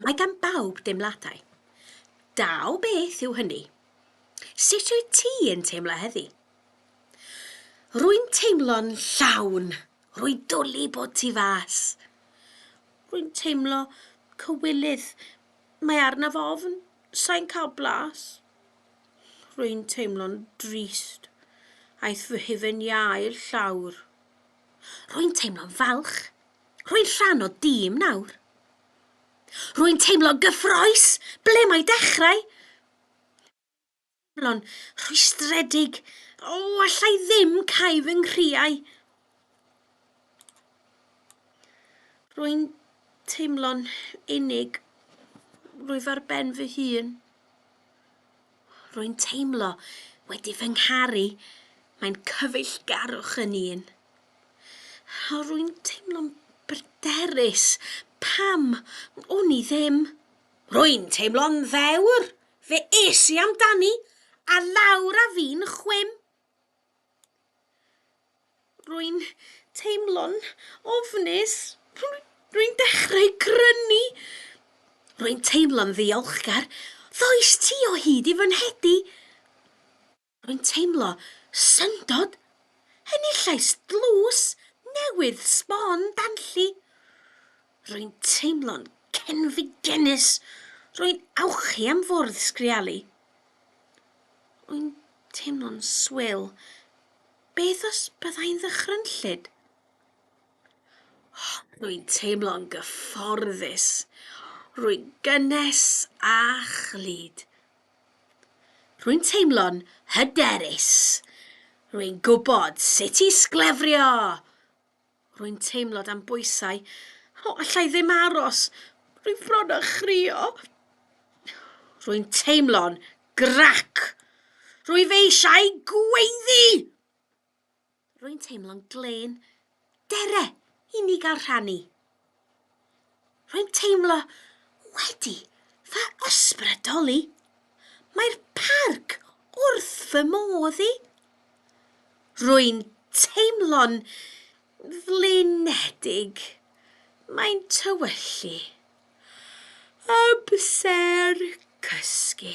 Mae gan bawb deimladau. Da o beth yw hynny? Sut wyt ti yn teimlo heddi? Rwy'n teimlo'n llawn. Rwy'n dwlu bod ti fas. Rwy'n teimlo cywilydd. Mae arnaf ofn. Sain cael blas. Rwy'n teimlo'n drist. Aeth fy hufen iâ i'r llawr. Rwy'n teimlo'n falch. Rwy'n rhan o dîm nawr. Rwy'n teimlo'n gyffroes. Ble mae dechrau? Teimlo'n rhwystredig. O, allai ddim cael fy nghriau. Rwy'n teimlo'n unig. Rwyf ar ben fy hun. Rwy'n teimlo wedi fy ngharu. Mae'n cyfeillgarwch yn un. O, rwy'n teimlo'n bryderus. Pam? O'n i ddim. Rwy'n teimlo'n ddewr. Fe es i amdani, a lawr a fi'n chwim. Rwy'n teimlo'n ofnus. Rwy'n dechrau crynu. Rwy'n teimlo'n ddiolchgar. Ddoes ti o hyd i fy nhedi. Rwy'n teimlo syndod. Enillais dlws newydd sbon danlli. Rwy'n teimlo'n cenfigennus! Rwy'n awchu am fwrdd sgrialu. Rwy'n teimlo'n swil. Beth os byddai'n ddychrynllyd? Rwy'n teimlo'n gyfforddus. Rwy'n gynnes a chlyd. Rwy'n teimlo'n hyderus. Rwy'n gwybod sut i sglefrio! Rwy'n teimlo dan bwysau. O, allai ddim aros. Rwy'n fron â chrio. Rwy'n teimlo'n grac. Rwyf eisiau gweiddi! Rwy'n teimlo'n glên. Dere, i ni gael rhannu. Rwy'n teimlo wedi fy ysbrydoli. Mae'r parc wrth fy modd i. Rwy'n teimlo'n flinedig. Mae'n tywyllu. Amser cysgu.